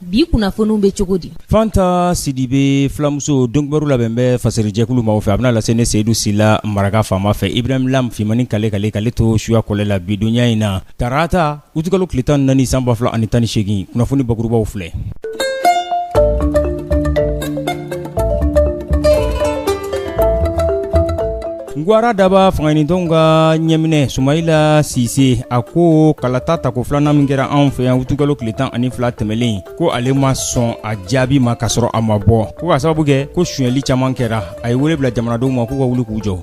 bi kunnafoniw bɛ cogo di fanta sidibe filamuso donkibaru labɛn bɛ fasiri jɛkulu maaw fɛ a bɛna lase ne seyidu sila maraka faama fɛ ibrahim lam fimani kale kale kale to suya kɔlɛ la bi donya in na tarata utikalo tile tan ni naani san ba fila ani tan ni seegin kunnafoni bakurubaw filɛ Ngwara daba fangaɲinitɔnw ka ɲɛminɛ sumayila sise a ko kalata tako filanan min kɛra anw fɛ yan utukalo tile tan ani fila tɛmɛnen ko ale ma sɔn a jaabi ma ka sɔrɔ a ma bɔ ko k'a sababu kɛ ko sonyali caman kɛra a ye wele bila jamanadenw ma k'u ka wuli k'u jɔ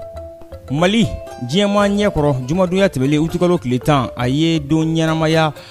mali diɲɛma ɲɛ kɔrɔ jumadonya tɛmɛnen utukalo tile tan a ye don ɲɛnamaya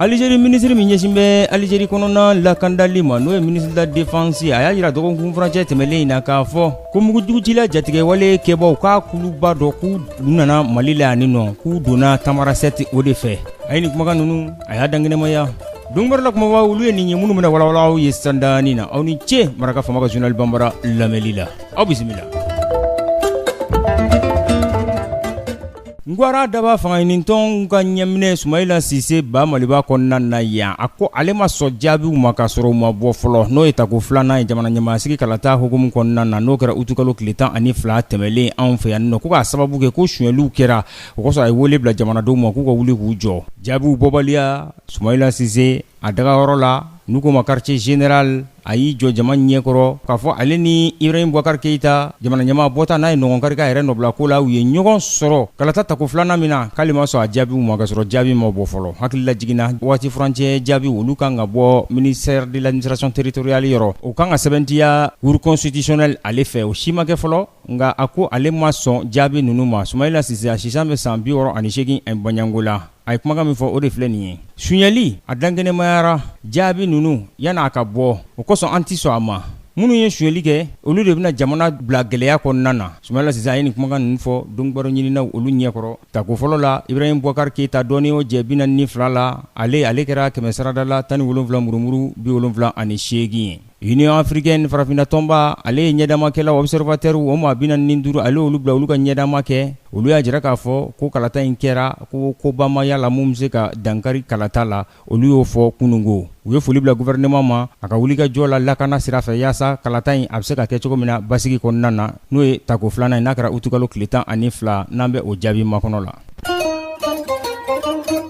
Alizeri minisiri min ɲɛsin bɛ alizeri kɔnɔna lakandali ma n'o ye ministre de la défense a y'a jira dɔgɔkun furancɛ tɛmɛnen in na k'a fɔ ko mugujugutila jatigɛwale kɛbaw ka kuluba dɔ k'u nana mali la yan nɔ k'u donna tamarasɛte o de fɛ a ye nin kumakan ninnu a y'a dankɛnɛmaya donkibaru la kumabaw olu ye nin ye minnu bɛna walawala aw ye sandani na aw ni ce maraka faama ka journal banbara lamɛnli la aw bisimila Ngwara daba fangaɲinitɔnw ka ɲɛminɛ sumayila sise ba maliba kɔnɔna na yan a ko ale ma sɔn jaabiw ma ka sɔrɔ u ma bɔ fɔlɔ n'o ye tako filanan ye jamana ɲɛmaasigi kalata hukumu kɔnɔna na n'o kɛra utukalo tile tan ani fila tɛmɛnlen anw fɛ yan nɔ ko k'a sababu kɛ ko sonyaliw kɛra o kosɔn a ye wele bila jamanadenw ma k'u ka wuli k'u jɔ jaabiw bɔbaliya sumayila sise a dagayɔrɔ la n'u ko ma quartier général a y'i jɔ jama ɲɛkɔrɔ k'a fɔ ale ni ibrahim bubakari keyita jamana ɲɛmaa bɔta n'a ye ɲɔgɔn kari k'a yɛrɛ nɔbilako la u ye ɲɔgɔn sɔrɔ kalata tako filanan min na k'ale ma sɔn a jaabiw ma ka sɔrɔ jaabi ma bɔ fɔlɔ hakililajigin na waati furancɛ jaabi olu kan ka bɔ ministère de l'administration territoriale yɔrɔ o kan ka sɛbɛntiya cour constitutionnelle ale fɛ o si ma kɛ fɔlɔ nka a ko ale ma sɔn jaabi ninnu ma sumayila sise a si san bɛ san bi wɔɔrɔ ani seegin bɔɲɔgɔnko la a ye kumakan min fɔ o de filɛ nin ye sonyali a dankɛnɛmayara jaabi ninnu yanni a ka bɔ o kosɔn an tɛ sɔn a ma minnu ye sonyali kɛ olu de bɛna jamana bila gɛlɛya kɔnɔna na sumayila sise a ye nin kumakan ninnu fɔ donkibaru ɲininaw olu ɲɛkɔrɔ tako fɔlɔ la ibrahim bubakari keyita dɔɔnin y'o jɛ bi naani ni fila la ale ale kɛra kɛmɛ sarada la tan ni wolonwula murumuru bi wolonwula ani seegin ye Union africaine farafinna tɔnba ale ye ɲɛdamakɛlaw observateurs o maa 45 ale y'olu bila olu ka ɲɛdama kɛ, olu y'a jira k'a fɔ ko kalata in kɛra ko koba ma y'a la min bɛ se ka dankari kalata la, olu y'o fɔ kunungo. U ye foli bila gouvernement ma a ka wulikajɔ la lakana sira fɛ yaasa kalata in a bɛ se ka kɛ cogo min na basigi kɔnɔna na, n'o ye tako filanan ye n'a kɛra utikalo tile tan ani fila n'an bɛ o jaabi makɔnɔ la.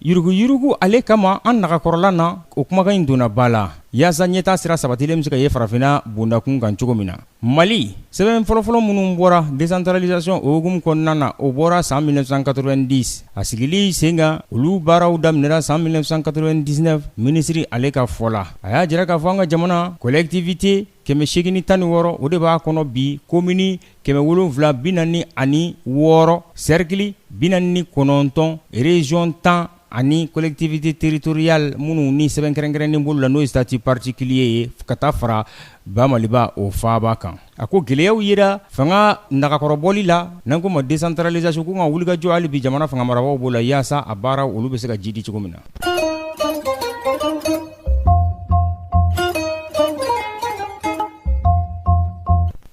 Yuruguyurugu ale kama an nagakɔrɔla na o kumakan in donna ba la yaasa ɲɛtaa sira sabatilen bɛ se ka ye farafinna bondakun kan cogo min na mali sɛbɛn fɔlɔfɔlɔ minnu bɔra décentralisation o hukumu kɔnɔna na o bɔra san 1990 a sigili sen kan olu baaraw daminɛra san 1999 minisiri ale ka fɔ la a y'a jira k'a fɔ an ka jamana collectivité kɛmɛ seegin ni tan ni wɔɔrɔ o de b'a kɔnɔ bi komini kɛmɛ wolonwula bi naani ani wɔɔrɔ sɛrikili bi naani ni kɔnɔntɔn région tan ani collectivité territoriale minnu ni sɛbɛn kɛrɛnkɛrɛnnen b'olu la n'o ye statut particulier ye ka taa fara ba maliba o faba kan a ko gɛlɛyaw yera fanga nagakɔrɔbɔli la n'an ko ma décentralisation ko ka wulikajɔ hali bi jamana fanga marabagaw b'o la yaasa a baara olu bɛ se ka jidi cogo min na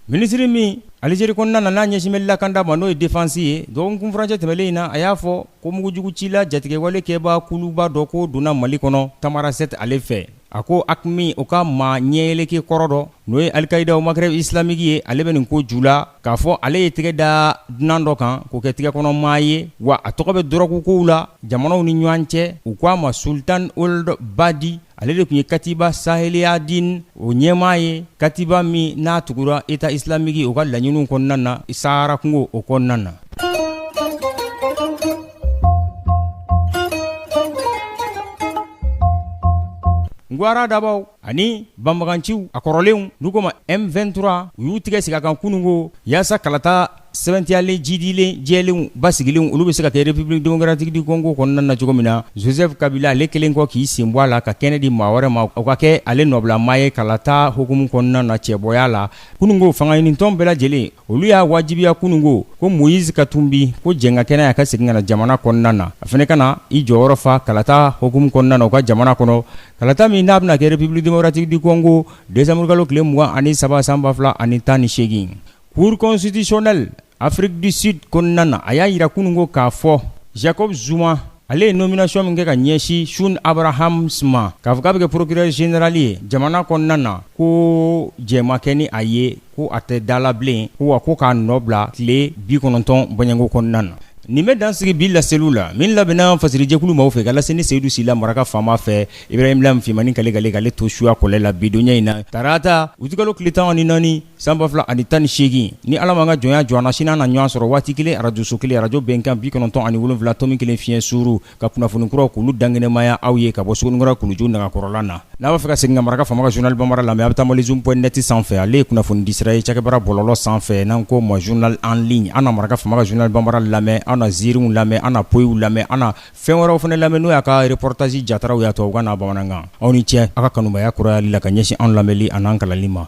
Minisiri min Algérie kɔnɔna na n'a ɲɛsin bɛ lakanda ma n'o ye défense ye dɔgɔkun furancɛ tɛmɛlen in na a y'a fɔ ko mugujugu cila jatigɛwale kɛba kuluba dɔ ko donna mali kɔnɔ Tamanrasset ale fɛ a ko AQMI o ka maa ɲɛyɛlɛkɛ kɔrɔ dɔ n'o ye Al-Qaïda au Maghreb islamique ye ale bɛ nin ko ju la k'a fɔ ale ye tɛgɛ da dunan dɔ kan k'o kɛ tɛgɛ kɔnɔmaa ye wa a tɔgɔ bɛ dɔrɔgu kow la jamanaw ni ɲɔgɔn cɛ u k'a ma Sultan Ould Badi ale de tun ye katiba saheliya din o ɲɛmaa ye katiba min n'a tugura État islamique o ka laɲiniw kɔnɔna na sahara kungo o kɔnɔna na ngwara dabaw ani banbaganciw a kɔrɔlenw n'u ko ma m23 u y'u tigɛ sigi a kan kunungo yaasa kalata Sɛbɛntiyalen jidilen jɛlenw basigilenw olu bɛ se ka kɛ république démocratique du Congo kɔnɔna na cogo min na Joseph Kabila ale kɛlen kɔ k'i sen bɔ a la ka kɛnɛ di maa wɛrɛ ma o ka kɛ ale nɔbilamaa ye kalata hukumu kɔnɔna na cɛbɔya la kunungo fangaɲinitɔn bɛɛ lajɛlen olu y'a wajibiya kunungo ko Moïse Katumbi ko jɛn ka kɛ n'a ye a ka segin ka na jamana kɔnɔna na a fana ka na i jɔyɔrɔ fa kalata hukumu kɔnɔna na u ka jamana kɔnɔ kalata min n'a bɛna kɛ république démocratique du Congo décembre kalo tile mugan ani saba san ba fila ani tan ni seegin Cour constitutionnelle Afrique du Sud kɔnɔna na a y'a yira kunungo k'a fɔ Jacob Zuma ale ye nomination min kɛ ka ɲɛsin Shaun Abrahams ma k'a fɔ k'a bɛ kɛ procureur général ye jamana kɔnɔna na ko jɛn ma kɛ ni a ye ko a tɛ dala bilen ko wa ko k'a nɔ bila tile bi kɔnɔntɔn bɔɲɔgɔnko kɔnɔna na nin bɛ dan sigi bi laseliw la min labɛnna fasirijɛkulu maaw fɛ ka lase ne Seyidu Sila maraka faama fɛ Ibrahim Lam Fimani kalikale to suya kɔlɛ la bidonya in na tarata utikalo tile tan ni naani San ba fila ani tan ni seegin ni ala ma ka jɔnya jɔ an na sini na ɲɔgɔn sɔrɔ waati kelen arajoso kelen arajo bɛnkan bi kɔnɔntɔn ani wolonwula tomi kelen fiɲɛ sururu ka kunnafoni kuraw k'olu dankɛnɛmaya aw ye ka bɔ sikɔrɔ kuluju nakɔrɔla na n'a b'a fɛ ka segin ka maraka faama ka zurunali bamanan lamɛn a bɛ taa malizoom.net sanfɛ ale ye kunnafoni disira ye cɛkɛbara bɔlɔlɔ sanfɛ n'an ko ma zurunali an liɲi an na maraka faama ka zurunali bamanan lamɛn an na ziiriw lamɛn an na poyiw lamɛn an na fɛn wɛrɛw fana lamɛn n'o y'a ka erepɔritazi jataraw y'a tubabukan n'a bamanankan aw ni cɛ aw ka kanubaya kurayali la ka ɲɛsin an lamɛnli ani an kalanni ma